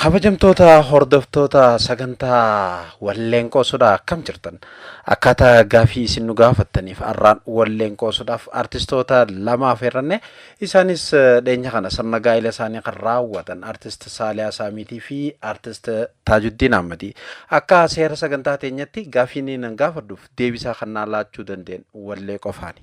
Kabajamtoota hordoftoota sagantaa walleen qoosudhaa akkam jirtan? Akkaataa gaafii isin nu gaafattaniif har'aan walleen qoosuudhaaf artistoota lama affeerranne isaanis dhiyeenya kana sirna gaa'ila isaanii kan raawwatan artist Saaliyaa Saamiitii fi artist Taajuddiin Ahmadii. Akka seera sagantaa teenyatti gaafiin nan gaafadhuuf deebisaa kan naa laachuu danda'an wallee qofaani.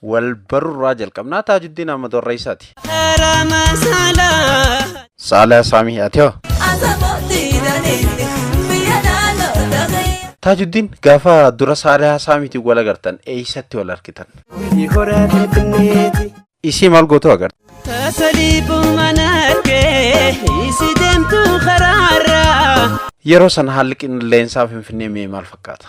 Wal barurraa jalqabnaa Taajuddiin Ahmad Warreessaati. Saalaa Saamii Atiyoo. Taajuddiin gaafa dura Saalaa Saamiitiin wal agartan eessatti wal argitan? Isii maal gootu agartan? Yeroo sana haalli qilleensaa Finfinnee mee maal fakkaata?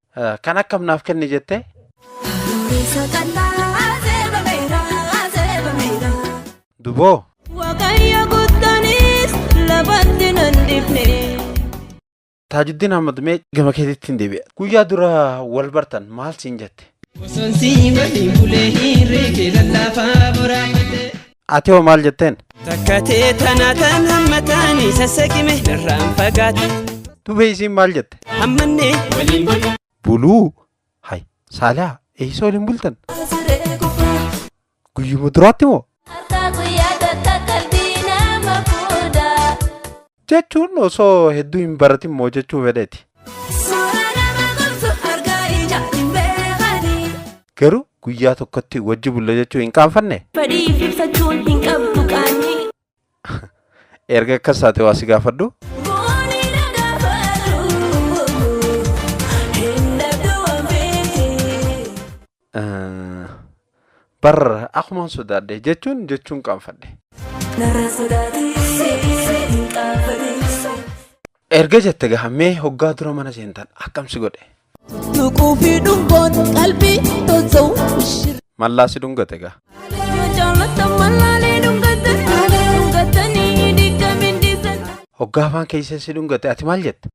Eh, Kan akkam naaf kenni jette Dureessa qal'aa seebameera seebameera. duboo Waaqayyo guddaanis lafatti nan dhifne. Taajuddiin Ahmad mee gama keetitti hin deebi'a. Guyyaa dura wal bartan maal siin jette? Osoon si waliin bulee hirree kee lallaafaa boraafadhe. Ati hoo maal jetteen? Takka tee tana tan hammataani sassaqime narraan fagaate. Tubee isiin maal jette? Hammannee waliin bulu. Buluu. Hay. Saalaa. Eessa waliin bultan? Guyyuma duraatti moo? Jechuun osoo hedduu hin baratin moo jechuu fedheti. Suuraa nama gorsu argaa ija hin beekani. Garuu guyyaa tokkotti wajji bulla jechuu hin qaanfanne? Fedhii ibsachuun hin qabdu qaanii. Erga akkas taate waa si gaafadhu. Booni na gaafatu. Hin dhabdu waan beekti. Bar akuman sodaadhe jechuun jechuun qaanfadhe. Narraa sodaatee hin qaanfadhe. Erga jette gaha mee hoggaa dura mana seentan akkam si godhe? Tuquu fi dhungoon qalbii tolcha'u shirri. Mallaa si dhungate gaha. Yoo jaallatan mallaalee dhungatan. Dhungatanii diigamiin diisan. Hoggaa afaan keessee si dhungate ati maal jette?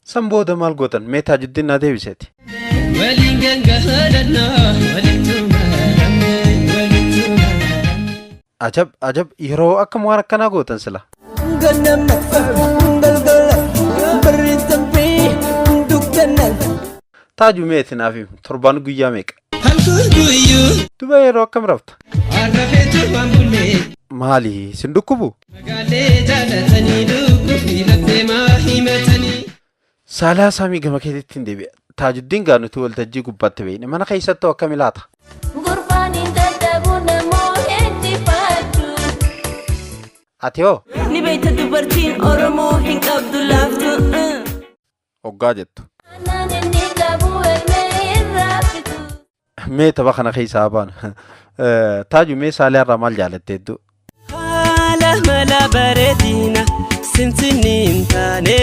San booda maal gootan? Mee Taajuddiin naa deebiseti. Waliin gangaladhaa walittu maramne walittu maramne. Ajab ajab yeroo akkam waan akkanaa gootan sila. Ganama galgala barri darbee dukkanaan. Taaju mee itti naaf himi. Torbaan guyyaa meeqa? Halkan guyyuu Dubee yeroo akkam rafta? har'a feetu waan bullee. Maali sin dhukkubu? Magaalee jaalatanii dhukkubbii laphee maa himatanii. Saalaa saamii gama keetitti hin deebi'a. Taajuddiin gaanutu waltajjii gubbaatti beekne mana keessatti hoo akkami laata? Gurbaan hin dadhabu namoota injifatu. Ati hoo? Ni beekta dubartiin Oromoo hin qabdu laaftu. hoggaa jettu. Mee tapha kana keessaa haa baanu. Eh, Taaju mee saalee irraa maal jaalatte hedduu? Haala mala bareedina simsinni hin taane.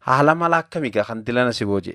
Haala mala akkamiigaa kan dilana si booje?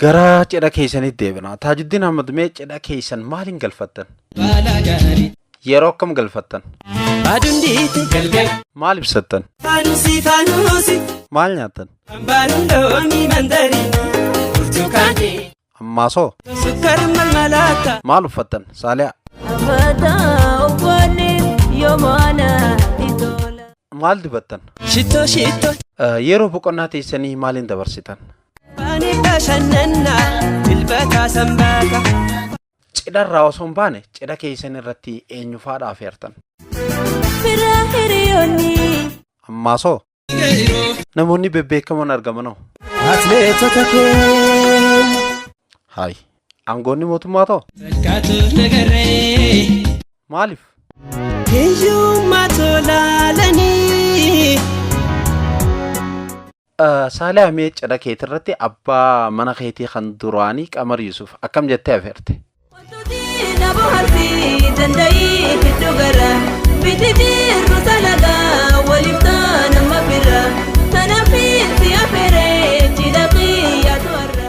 Gara cidha keessanitti deebina. Taajuddiin Ahmad mee cidha keessan maaliin galfattan? Baalaa gaarii. Yeroo akkam galfattan? Aduun dhiite galgal. Maal ibsattan? Faanusi faanusi. Maal nyaattan? Ambaaruun loomii mandariin. Burtukaanee. Ammaasoo? Sukkaara malmalaata. Maal uffattan? Saaliyaa? Maal dibattan? Shittoo shittoo. Eh, Yeroo boqonnaa teessanii maaliin dabarsitan? Cidha irraa osoo hin baane cidha keessan irratti eenyu faadha afeertan? Ammaasoo namoonni bebbeekamoon argamanoo? Atileetota keenya. Haayi aangoonni mootummaa too? Fakkaatuuf nagarree. Maaliif? Hiyyummaa tolaalanii. Saaliha mee cidha keetirratti abbaa mana keetii kan duraanii Qamar Yusuf akkam jettee afeerte? Wantooti na bohaarsi danda'ii hedduu gara miti jirru talaga waliif ta'an amma bira kanaaf itti afeeree cidha kiyyaatu har'a.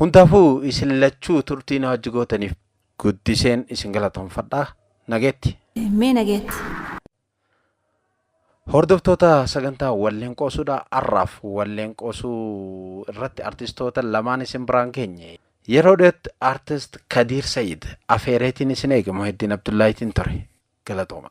Hundaafuu isin lachuu turtii na wajji gootaniif guddiseen isin galatonfadha. Nageetti. Mee nageetti. Hordoftoota sagantaa walleen qoosuudha har'aaf walleen qoosuu irratti artistoota lamaan isin biraan geenye. Yeroo dhiyootti artist Kadiir Sayid afeereetiin isin eege Muheddiin Abdullaahitiin ture. Galatooma.